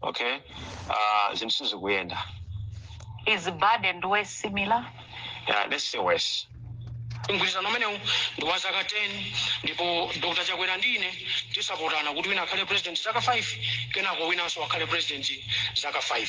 okay uh, zinthu sizikuyenda Is bad and worse similar? yeah, let's say worse mgwirizano umenewu ndi wa zaka 10 ndipo dr chakwera ndi ine tizapotana kuti wina akhale president zaka 5 kenako winanso akhale president zaka 5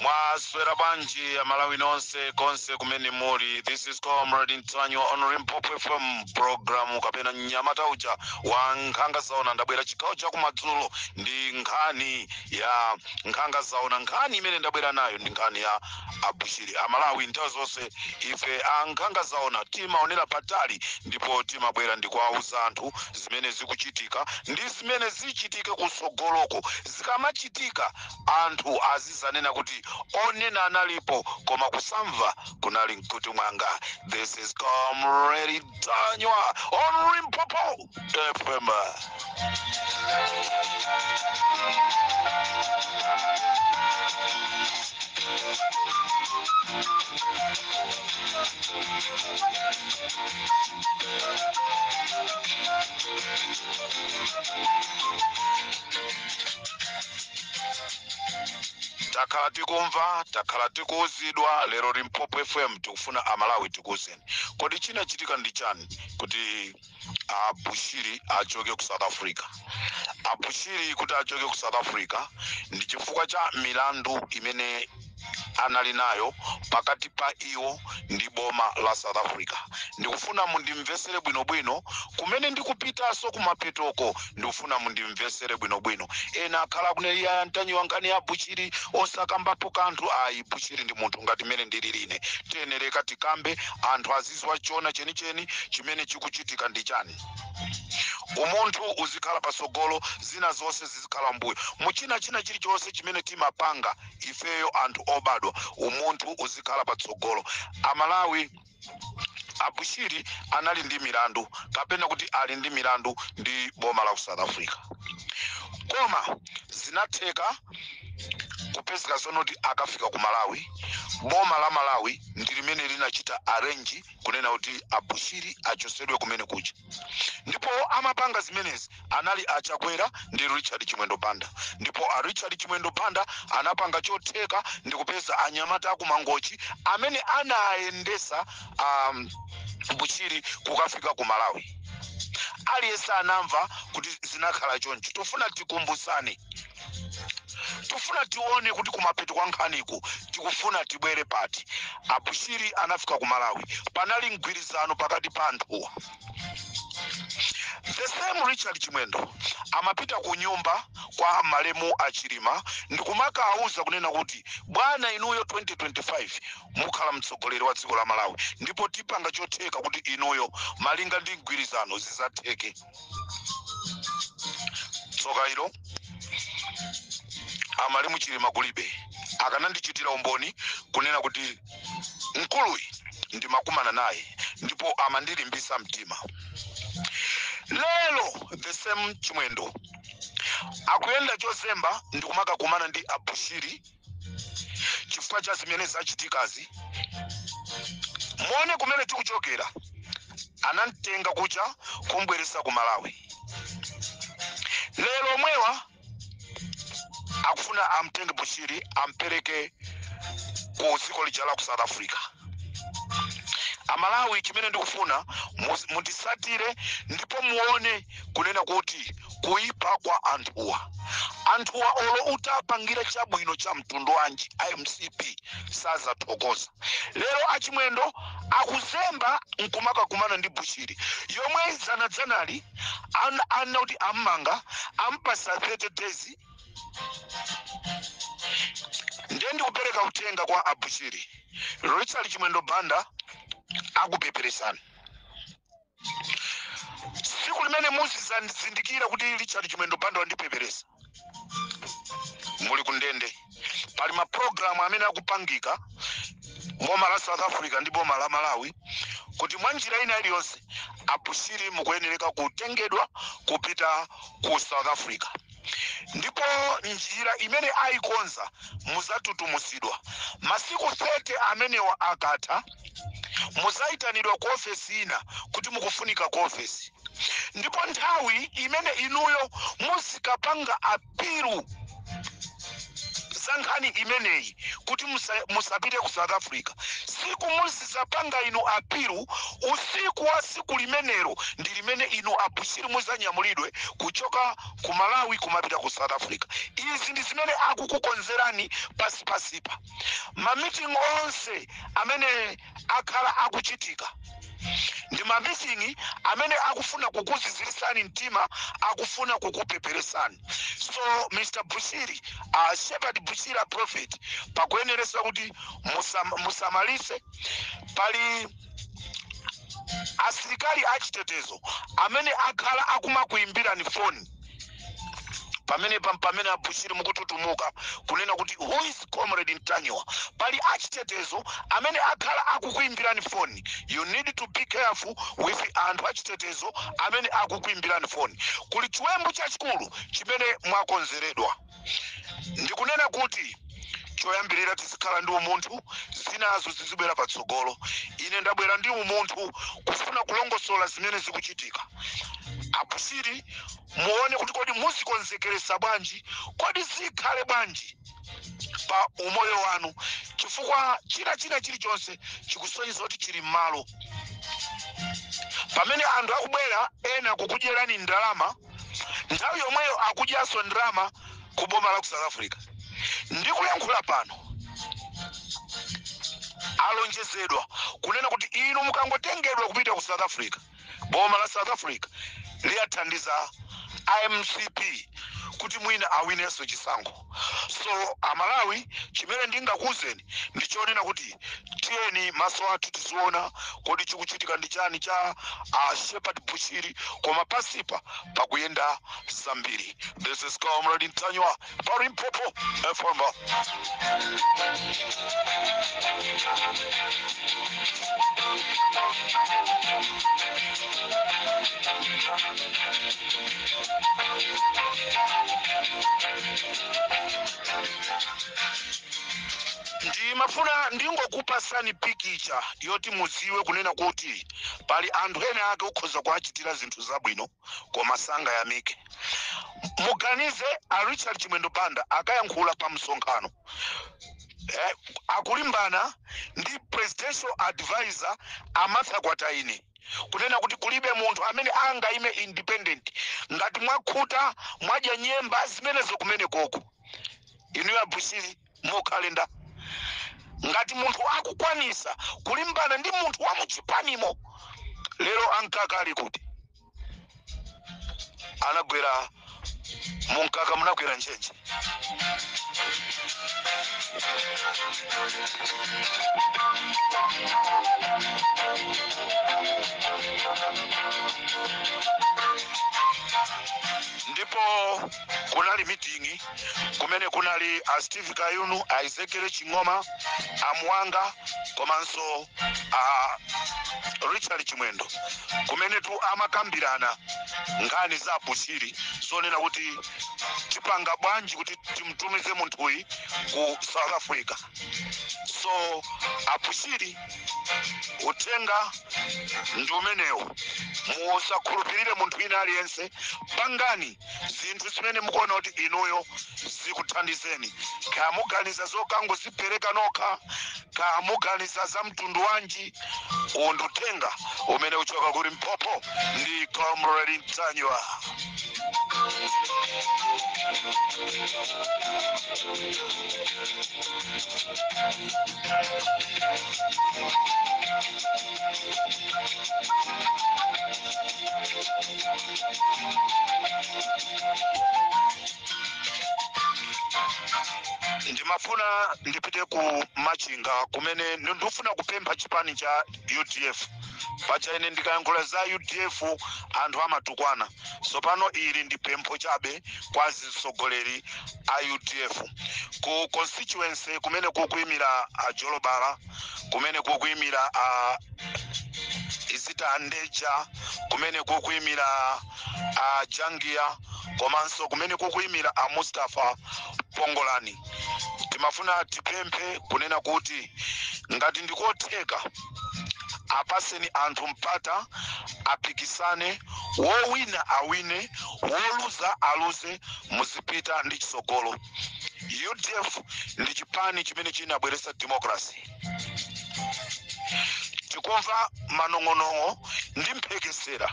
mwaswera bwanji amalawi nonse konse kumene muli this is comrade ntanyiwa on limpopo fm program kapena mnyamata uja wa nkhanga zaona ndabwera chigawo chakumadzulo ndi nkhani ya nkhanga zaona nkhani imene ndabwera nayo ndi nkhani ya Abushiri, amalawi nthawi zonse ife a nkhanga zaona timaonera patali ndipo timabwera ndikuwauza anthu zimene zikuchitika ndi zimene zichitike kutsogoloko. Zikamachitika anthu azizanena kuti onena analipo koma kusamva kunali mkutu mwanga. This is Comrade Ntanyiwa on Limpopo! takhala tikumva takhala tikuuzidwa lero limpopo fm tikufuna amalawi tikuuzeni kodi chinachitika ndi chani kuti a bushiri achoke ku south africa a bushiri kuti achoke ku south africa ndi chifukwa cha milandu imene anali nayo pakati pa iwo ndi boma la south africa ndikufuna mundimvesere bwinobwino kumene ndikupitanso kumapetoko ndikufuna mundimvesere bwinobwino ena akhala akunena a ntanyiwa nkhani ya bushiri osakambapo kanthu ayi bushiri ndi munthu ngati mmene ndili ine tiyenereke tikambe anthu azi dziwa chona chenicheni chimene chikuchitika ndi chani umunthu uzikhala patsogolo zina zonse zizikhala mbuyo muchina china chilichonse chimene timapanga ifeyo anthu obadwa umunthu uzikhala patsogolo amalawi abushiri anali ndi milandu kapena kuti ali ndi milandu ndi boma la ku south africa koma zinatheka kupezeka zonoti akafika ku malawi boma la malawi ndi limene linachita arrange kunena kuti abushiri achosedwe kumene kuja ndipo amapanga zimenezi anali achakwera ndi richard chimwendo banda ndipo a richard chimwendo banda anapanga chotheka ndi kupeza anyamata akumangochi amene anayendesa um, bushiri kukafika ku malawi aliyense anamva kuti zinakhala choncho tofuna tikumbusane tofuna tione kuti kumapeto kwa nkhaniku tikufuna tibwere pati abushiri anafika ku malawi panali mgwirizano pakati pa anthuwa the same richard chimwendo amapita ku nyumba kwa malemu achilima ndikumakawuza kunena kuti bwana inuyo 2025 mukhala mtsogoleri wa dziko la malawi ndipo tipanga chotheka kuti inuyo malinga ndi mgwirizano zizatheke tsoka ilo amalemu chilima kulibe akanandichitira umboni kunena kuti mkuluyi ndimakumana naye ndipo amandilimbisa mtima lero the same chimwendo akuyenda chozemba ndikumakakumana ndi abushiri chifukwa cha zimene zachitikazi muone kumene tikuchokera anamtenga kuja kumbweresa ku malawi lero omwewa akufuna amtenge bushiri ampereke ku dziko lija la ku south africa amalawi chimene ndikufuna mundisatire ndipo muone kunena kuti kuipa kwa anthuwa anthuwa olo utapangira chabwino cha mtundu wanji a mcp sazathokoza lero achimwendo akuzemba nkumakakumana ndi bushiri yomwe dzanadzanali anena kuti ammanga ampasa 30 days ndiye ndikupereka uthenga kwa abushiri richard chimwendo banda akupeperesana siku limene muzizazindikira kuti richard chimwendo banda wandipeperesa muli kundende pali maprogramu amene akupangika boma la south africa ndi boma la malawi kuti mwa njira ina iliyonse abushiri mukuyenereka kutengedwa kupita ku south africa ndipo njira imene ayikonza muzatutumuzidwa masiku 30 amenewa akatha muzayitanidwa ku ofesi ina kuti mukufunika ku ofesi ndipo nthawi imene inuyo muzikapanga apilu za nkhani imeneyi kuti musapite ku south africa siku muzizapanga inu apilu usiku wa siku limenelo ndi limene inu abushiri muzanyamulidwe kuchoka ku malawi kumapita ku south africa izi ndi zimene akukukonzerani pansipansipa mamiting onse amene akhala akuchitika ndi mamiting amene akufuna kukuzizirisani mtima akufuna kukupeperesani so mr bushiri uh, shepherd bushiri a prophet pakuyeneresa kuti musam, musamalise pali asilikali achitetezo amene akhala akumakuimbirani foni pamene pam- pamene abushiri mukututumuka kunena kuti who is comrade ntanyiwa pali achitetezo amene akhala akukuimbirani foni you need to be careful with anthu achitetezo amene akukuimbirani foni kuli chiwembu chachikulu chimene mwakonzeredwa ndikunena kuti choyambirira tizikhala ndi umunthu zinazo zizibwera patsogolo ine ndabwera ndi umunthu kufuna kulongosola zimene zikuchitika abushiri muone kuti kodi muzikonzekeresa bwanji kodi zikhale bwanji pa umoyo wanu chifukwa china china chilichonse chikusonyeza kuti chili m'malo pamene anthu akubwera ena kukudyerani ndalama nthawi yomweyo akudyanso ndalama ku boma la ku south africa ndikulankhula pano alonjezedwa kunena kuti inu mukangotengedwa kupita ku south africa boma la south africa liyathandiza a mcp kuti mwina awinenso chisankho so amalawi chimene ndingakuuzeni ndi chonena kuti tiyeni maso athu tiziona kodi chikuchitika ndi chani cha uh, shepherd bushiri koma pasipa pakuyenda zambiri this is comrade ntanyiwa pa Limpopo FM. ndimafuna ndingokupasani pikicha yoti mudziwe kunena kuti pali anthu ena ake ukhoza kuwachitira zinthu zabwino koma sangayamike muganize a richard chimwendo banda akayankhula pa msonkhano eh, akulimbana ndi presidential advisor a martha kwataine kunena kuti kulibe munthu amene angaime independent ngati mwakhuta mwadya nyemba zimenezo kumene koko inuyo abushiri mukhale nda ngati munthu akukwanisa kulimbana ndi munthu wa muchipanimo lero amkaka ali kuti anagwera mumkaka munagwera ntchentche ndipo kunali mitingi kumene kunali a steve kayuni a ezekiel ching'oma a mwanga komanso a richard chimwendo kumenetu amakambirana nkhani za a bushiri zonena kuti tipanga bwanji kuti timtumize munthuyi ku south africa so a bushiri uthenga ndi umenewu musakhulupirire munthu wina aliyense pangani zinthu zimene mukuona kuti inuyo zikuthandizeni kaya muganiza zokangozipereka nokha kaya muganiza za mtundu wanji uwu ndi uthenga umene ukuchoka ku limpopo ndi comrade ntanyiwa ndimafuna ndipite ku machinga kumene ndi- ndikufuna kupempha chipani cha udf paja ine ndikayankhula za udf anthu amatukwana tsopano ili ndi pempho chabe kwa atsogoleri a udf ku constituency kumene kukuimira a jolobala kumene kukuimira a esther ndeja kumene kukuimira a jangiya komanso kumene kukuimira a mustafa pongolani timafuna tipemphe kunena kuti ngati ndikotheka apaseni anthu mpata apikisane wowina awine woluza aluze muzipita ndi chitsogolo udf ndi chipani chimene chinabweretsa democracy tikumva manong'onong'o ndi mphekesera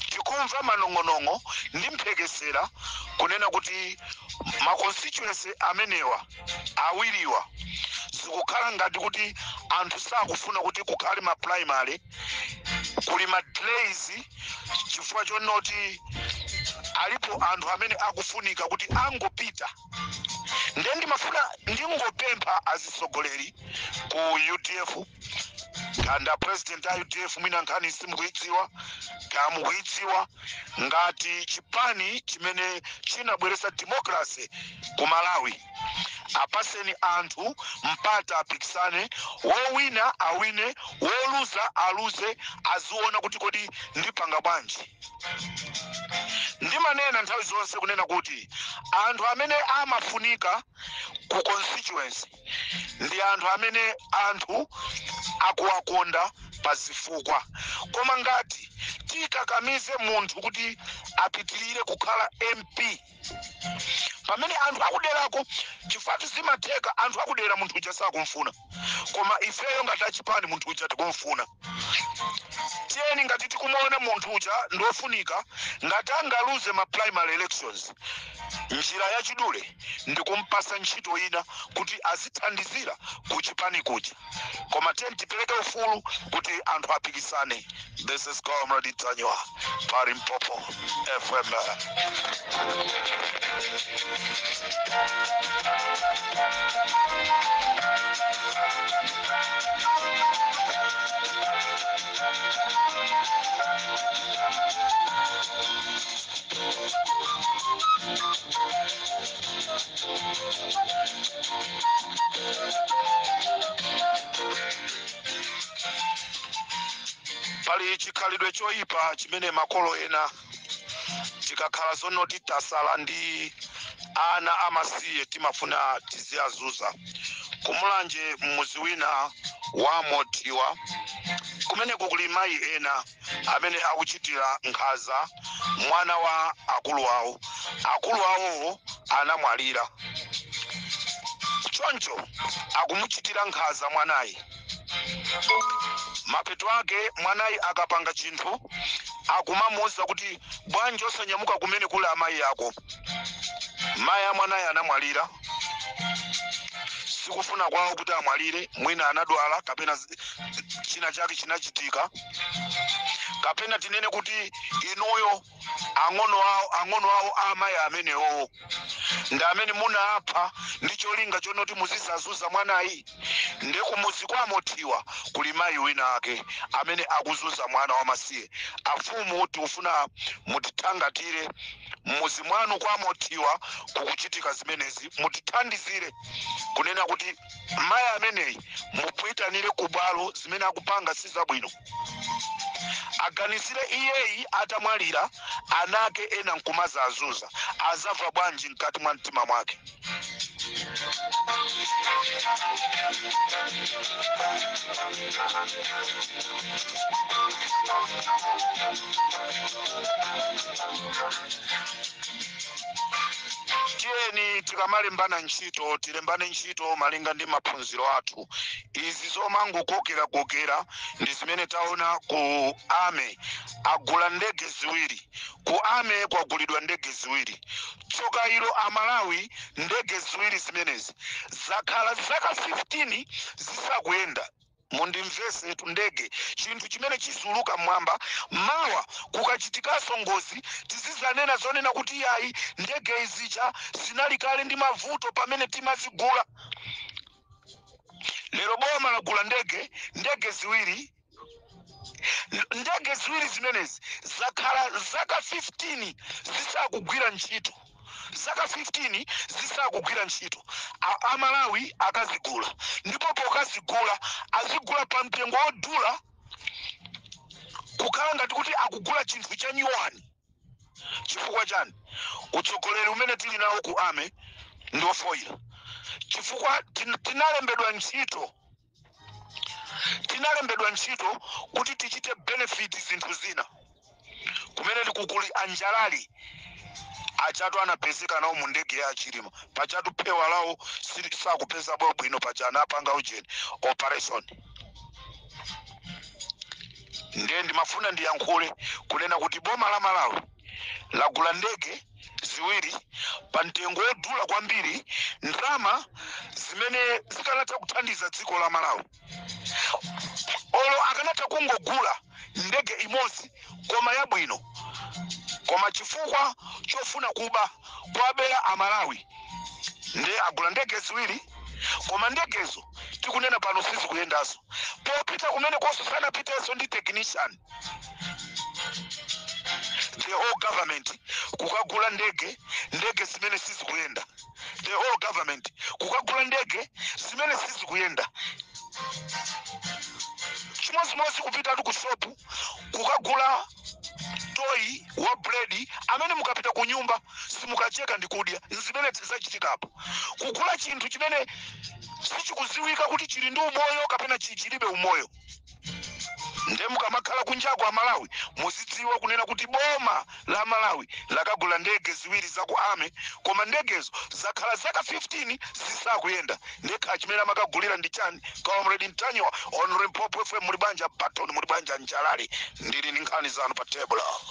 tikumva manong'onong'o ndi mphekesera kunena kuti ma constituency amenewa awiriwa zikukhala ngati kuti anthu sakufuna kuti kukhale ma primary kuli ma delays chifukwa chonoti alipo anthu amene akufunika kuti angopita nde ndimafuna ndingopempha azitsogoleri ku udf kapena president a udf mwina nkhaniyi simukuidziwa kaya mukuidziwa ngati chipani chimene chinabweretsa democracy ku malawi apaseni anthu mpata apikisane wowina awine woluza aluze aziona kuti kodi ndipanga bwanji ndimanena nthawi zonse kunena kuti anthu amene amafunika ku constituency ndi anthu amene anthu akuwakonda pa zifukwa koma ngati tikakamize munthu kuti apitirire kukhala mp pamene anthu akuderako chifukwatu zimatheka anthu akudera munthu uja sakumfuna koma ifeyo ngati achipani munthu uja tikumfuna tiyeni ngati tikumuona munthu uja ndiofunika ngati angaluze ma primary elections njira yachidule ndikumpasa ntchito ina kuti azithandizira kuchipani kuja koma tiyeni tipereke ufulu kuti anthu apikisane this is comrade ntanyiwa pa limpopo fm pali chikhalidwe choyipa chimene makolo ena tikakhala zonoti tasala ndi ana amasiye timafuna tiziyazuza kumulanje mmuzi wina wa mothiwa kumeneko kuli mayi ena amene akuchitira nkhaza mwana wa akulu awo akulu awowo anamwalira choncho akumuchitira nkhaza mwanayi mapeto ake mwanayi akapanga chinthu akumamuwuza kuti bwanji osanyamuka kumene kuli amayi ako mayi a mwanayi anamwalira sikufuna kwawo kuti amwalire mwina anadwala kapena zi- china chake chinachitika kapena tinene kuti inuyo ang'ono awo ang'ono awo a amayi amenewowo ndi amene munapha ndi cholinga chonoti muzizazuza mwanayi ndi kumuzi kwa mothiwa kuli mayi wina ake amene akuzuza mwana wamasiye afumu tikufuna mutithangatire mmuzi mwanu kwa mothiwa kukuchitika zimenezi mutithandizire kunena kuti mayi ameneyi mupuitanire ku bwalo zimene akupanga si zabwino aganizire iyeyi atamwalira anake ena nkumazaazuza azava bwanji mkati mwa mtima mwake tiyeni tikamalembana ntchito tilembane ntchito malinga ndi maphunziro athu izi zomangokokerakokera ndi zimene taona ku army agula ndege ziwiri ku army kwagulidwa ndege ziwiri Tsoka ilo Amalawi ndege ziwiri zimenezi zakhala zaka 15 zisakuyenda. Mundimvesetsetu ndege chinthu chimene chiziuluka mmwamba mawa kukachitikaso ngozi tizizanena zonena kuti iyayi ndege izija zinali kale ndi mavuto pamene timazigula. Lero boma lagula ndege ndege ziwiri. ndege ziwiri zimenezi zakhala zaka 15 zisakugwira ntchito zaka 15 zisakugwira ntchito Amalawi akazigula ndipo pokazigula azigula pa mtengo wodula kukhala ngati kuti akugula chinthu cha nyuwani chifukwa chani utsogoleri umene tili nawo ku army ndi ofoira chifukwa tinalembedwa ntchito tinalembedwa ntchito kuti tichite benefit zinthu zina kumene tikukuli a Njalali pajatu anapezeka nawo mu ndege ya a Chilima pajatu phewa lawo sili- sakupeza bwino bwino paja anapanga ujeni operation ndiye ndimafuna ndiyankhule kunena kuti boma la Malawi lagula ndege ziwiri pa mtengo wodula kwambiri ndalama zimene zikanatha kuthandiza dziko la Malawi olo akanatha kungogula ndege imodzi koma yabwino koma chifukwa chofuna kuba kuwabera amalawi nde agula ndege ziwiri koma ndegezo tikunena pano sizikuyendaso popita kumene koso sanapiteso ndi technician the whole government kukagula ndege ndege zimene sizikuyenda the whole government kukagula ndege zimene sizikuyenda chimodzimodzi kupitatu ku shopu kukagula toyi wa buledi amene mukapita ku nyumba simukacheka ndi kudya zimene zachitikapo kugula chinthu chimene sichikudziwika kuti chili ndi umoyo kapena chi- chilibe umoyo nde mukamakhala kunjako amalawi muzidziwa kunena kuti boma la Malawi lakagula ndege ziwiri za ku army koma ndegezo zakhala zaka 15 zisakuyenda nde kaya chimene amakagulira ndi chani comrade Mtanyiwa on Limpopo FM muli banja Baton muli banja Njalali ndili ndi nkhani zanu pa table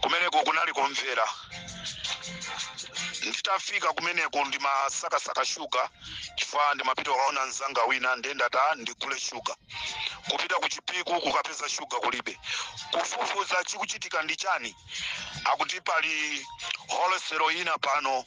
kumeneko kunali ku Mvera nditafika kumeneko ndimasakasaka shuga chifukwa ndimapita kukaona mzanga wina nde ndati ndigule shuga kupita ku Chipiku kukapeza shuga kulibe kufufuza chikuchitika ndi chani akuti pali wholesale ina pano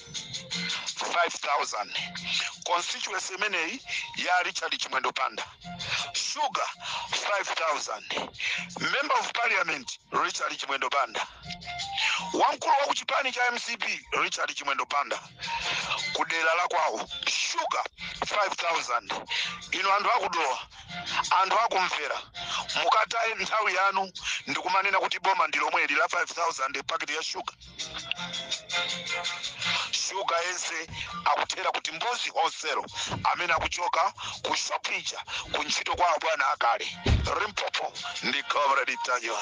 5000 constituency imeneyi ya richard chimwendo banda sugar 5000 member of parliament richard chimwendo banda wamkulu wa kuchipani cha mcp richard chimwendo banda ku dera lakwawo sugar 5000 inu anthu akudowa anthu akumvera mukataye nthawi yanu ndikumanena kuti boma ndi lomweli la 5000 paketi ya sugar shuga yense akuthera ku Timbuzi Wholesale amene akuchoka ku shopija ku ntchito kwa abwana akale limpopo ndi comrade ntanyiwa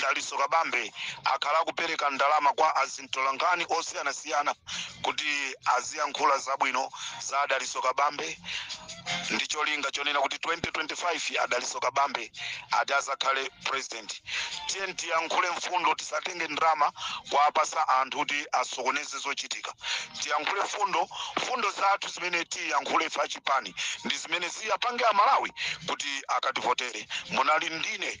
Dalitso Kabambe akhala akupereka ndalama kwa azintolankhani osiyanasiyana kuti aziyankhula zabwino za a Dalitso Kabambe ndi cholinga chonena kuti 2025 a Dalitso Kabambe ati azakhale president. Tiyeni tiyankhule mfundo, tisatenge ndalama kuwapatsa anthu kuti asokoneze zochitika. Tiyankhule mfundo, mfundo zathu zimene tiyankhule ife achipani ndi zimene ziwapange Amalawi kuti akativotere. Munali ndine